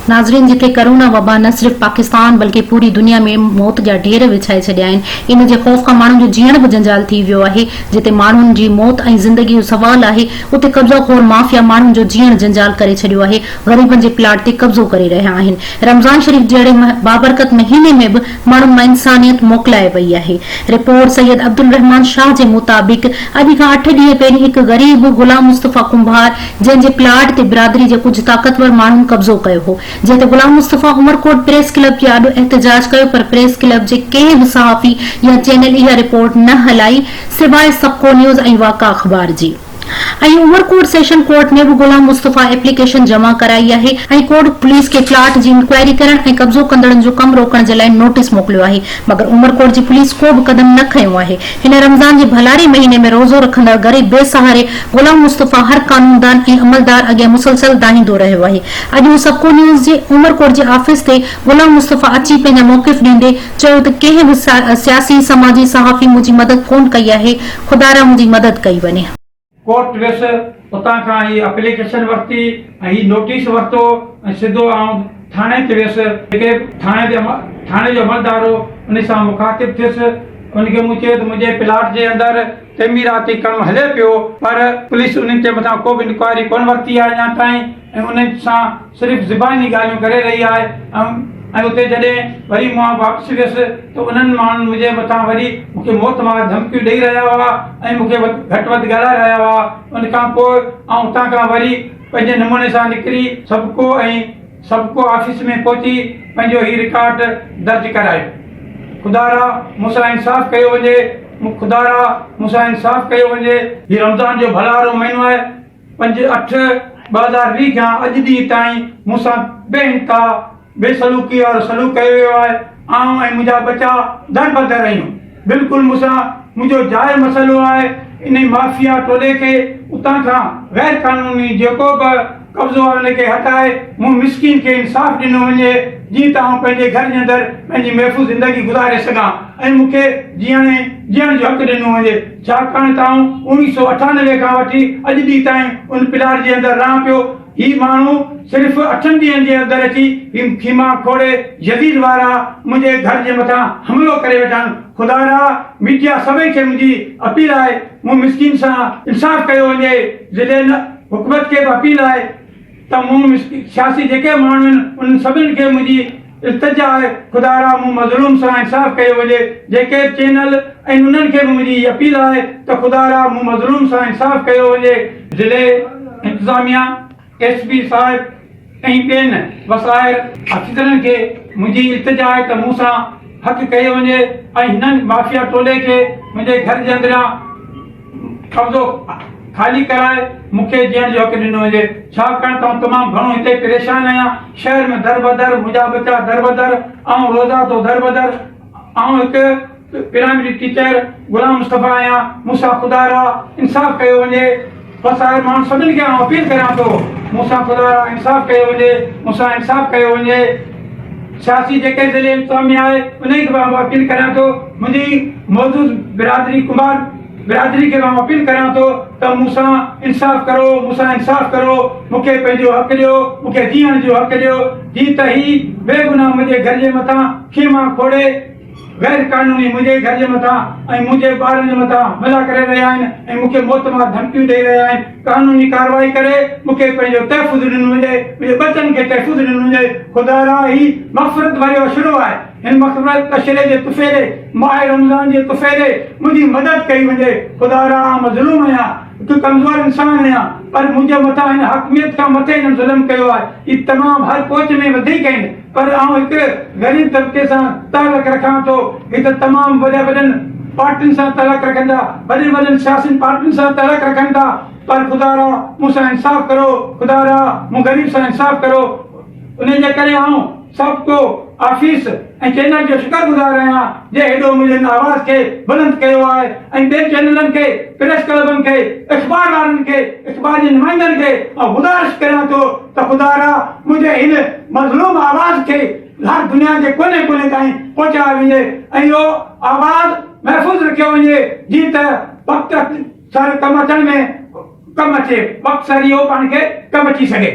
ناظرين جتي ڪرونا وبا نه صرف پاڪستان بلڪه پوري دنيا ۾ موت جا ڍير وڇائي ڇڏيا آهن ان جي خوف کان ماڻهن جو جيئڻ به جنجال ٿي ويو آهي جتي ماڻهن جي موت ۽ زندگي جو سوال آهي اتي قبضا خور مافيا ماڻهن جو جيئڻ جنجال ڪري ڇڏيو آهي غريبن جي پلاٽ تي قبضو ڪري رهيا آهن رمضان شريف جهڙي بابرڪت مهيني ۾ به ماڻهن مان انسانيت موڪلائي وئي آهي. رپورٽ سيد عبدالرحمان شاهه جي مطابق اڄ کان اٺ ڏينهن پهرين هڪ غريب غلام مصطفيٰ ڪنڀار جنهن جي پلاٽ تي برادري جي ڪجهه طاقتور ماڻهن قبضو ڪيو هو جنهن تي غلام مصطفيٰ عمرڪوٽ پريس ڪلب جي آڏو احتجاج ڪيو پر پريس ڪلب جي ڪنهن به صحافي يا چينل اها رپورٽ نه هلائي سواء سپڪو نيوز ۽ واقعا اخبار جي. ۽ عمرڪوٽ سيشن ڪورٽ ۾ به غلام مصطفيٰ ايپليڪيشن جمع ڪرائي آهي ۽ ڪورٽ پوليس کي فلاٽ جي انڪوائري ڪرڻ ۽ قبضو ڪندڙن جو ڪم روڪڻ جي لاء نوٽيس موڪليو آهي مگر عمرڪوٽ جي پوليس ڪو به قدم نه کنيو آهي هن رمضان جي ڀلاري مهيني ۾ روزو رکندڙ غريب بي سهاري غلام مصطفيٰ هر قانوندان ۽ عملدار اڳيان مسلسل دانهيندو رهيو آهي اڄ هو سبڪو نيوز جي عمرڪوٽ جي آفيس تي غلام مصطفيٰ اچي پنهنجا موقف ڏيندي چيو ته ڪنهن به سياسي، سماجي، صحافي منهنجي مدد ڪونه ڪئي آهي، خدارا منهنجي مدد ڪئي وڃي. ڪورٽ ويس، اتان کان هي اپليڪيشن ورتي ۽ هي نوٽيس ورتو ۽ سڌو آئون ٿاڻي تي ويس، جتي ٿاڻي جي ٿاڻي جو عملدار هو ان سان مخاطب ٿيس، ان کي مون چيو ته منهنجي پلاٽ جي اندر تعميراتي ڪم هلي پيو پر پوليس انهن جي مٿان ڪو به انڪوائري ڪونه ورتي آهي اڃا تائين، ۽ انهن سان صرف زباني ڳالهيون ڪري رهي آهي ۽ اتي جڏهن وري مان واپس ويس ته انهن ماڻهن منهنجي مٿان وري مون کي موت وارا ڌمڪيون ڏئي رهيا هئا ۽ مون کي گهٽ وڌ ڳالهائي رهيا هئا ان کان پوء آئون اتان کان وري پنهنجي نموني سان نڪري سبڪو ۽ سبڪو آفيس ۾ پهچي پنهنجو هي رڪارڊ درج ڪرايو خدا را مون سان انصاف ڪيو وڃي خدا را مون سان انصاف ڪيو وڃي. هي رمضان جو ڀلارو مهينو آهي. پنج اٺ ٻه هزار ويهه کان اڄ ڏينهن تائين مون سان بي انتها بي سلوڪي وارو سلوڪ ڪيو ويو آهي آئون ۽ منهنجا ٻچا در بدر آهيون بلڪل مون سان منهنجو ظاهر مسئلو آهي انهي مافيا ٽولي کي اتان کان غير قانوني جيڪو به قبضو آهي ان کي هٽائي مون مسڪين کي انصاف ڏنو وڃي جيئن ته آئون پنهنجي گهر جي اندر پنهنجي محفوظ زندگي گذاري سگهان ۽ مون کي جيئڻ جيئڻ جو حق ڏنو وڃي. ڇاڪاڻ ته آئون اوڻيھ سؤ اٺانوي کان وٺي اڄ ڏينهن تائين ان پلاٽ جي اندر رهان پيو. هي ماڻهو صرف اٺن ڏينهن جي اندر اچي هي خيما کوڙي يزيد وارا منهنجي گهر جي مٿان حملو ڪري ويٺا آهن. خدا را ميڊيا سڀئي کي منهنجي اپيل آهي مون مسڪين سان انصاف ڪيو وڃي. ضلعي حڪومت کي به اپيل آهي. ته مون سياسي جيڪي به ماڻهو آهن انهن سڀني کي منهنجي التجا آهي خدا را مون مظلوم سان انصاف ڪيو وڃي جيڪي به چينل آهن انهن کي به منهنجي هي اپيل آهي ته خدا را مون مظلوم سان انصاف ڪيو وڃي. ضلعي انتظاميا، ايس پي صاحب ۽ ٻين وسائر آفيسرن کي منهنجي التجا آهي ته مون سان حق ڪيو وڃي ۽ هنن مافيا ٽولي کي منهنجي گهر جي اندريان، قبضو خالي ڪرائي مون کي جيئڻ جو حق ڏنو وڃي ڇاڪاڻ ته آئون تمام گهڻو هتي پريشان آهيان شهر ۾ دربدر منهنجا ٻچا دربدر آئون روزا ٿو دربدر آئون هڪ پرائمري ٽيچر غلام مصطفيٰ آهيان مون سان خدا را انصاف ڪيو وڃي وسائل ماڻهو سڀني کي آئون اپيل ڪريان ٿو مون سان خدا را انصاف ڪيو وڃي مون سان انصاف ڪيو وڃي سياسي جيڪي ضلعي انتظاميا آهي انهن کي به آئون اپيل ڪريان ٿو منهنجي معزز برادري ڪمار برادري کي مان اپيل ڪريان ٿو ته مون سان انصاف ڪرو مون سان انصاف ڪرو مون کي پنهنجو حق ڏيو مون کي جيئڻ جو حق ڏيو جي ته هي بي گناهه منهنجي گهر جي مٿان خيما کوڙي غير قانوني منهنجي گهر جي مٿان ۽ منهنجي ٻارن جي مٿان حملا ڪري رهيا آهن ۽ مون کي موت مار ڌمڪيون ڏئي رهيا آهن قانوني ڪارروائي ڪري مون کي پنهنجو تحفظ ڏنو وڃي منهنجي ٻچن کي تحفظ ڏنو وڃي خدايا هي مغفرت ڀريو شروع آهي هن مقبول ڪشري جي طفيلي، ماهه رمضان جي طفيلي، منهنجي مدد ڪئي وڃي. خدا را آء مظلوم آهيان، هڪ ڪمزور انسان آهيان، پر منهنجي مٿان هن حاڪميت کان مٿي هنن ظلم ڪيو آهي. هي تمام هر پوچ ۾ وڌيڪ آهن، پر آئون هڪ غريب طبقي سان تعلق رکان ٿو. هي ته تمام وڏن وڏن پارٽين سان تعلق رکن ٿا، وڏين وڏين سياسين پارٽين سان تعلق رکن ٿا، پر خدا را مون سان انصاف ڪرو، خدا را مون غريب سان انصاف ڪرو. انهيء جي ڪري آئون سڀ ڪو آفيس ۽ چينل جو شڪر گذار آهيان جنهن هيڏو منهنجن آواز کي بلند ڪيو آهي ۽ ٻين چينلن کي، پريس ڪلبن کي، اخبار وارن کي، اخبار جي نمائندن کي آئون گذارش ڪريان ٿو ته خدا را منهنجي هن مظلوم آواز کي هر دنيا جي ڪوني ڪوني تائين پهچايو وڃي ۽ اهو آواز محفوظ رکيو وڃي جيئن ته وقت سر ڪم اچڻ ۾ ڪم اچي، وقت سر اهو پاڻ کي ڪم اچي سگهي.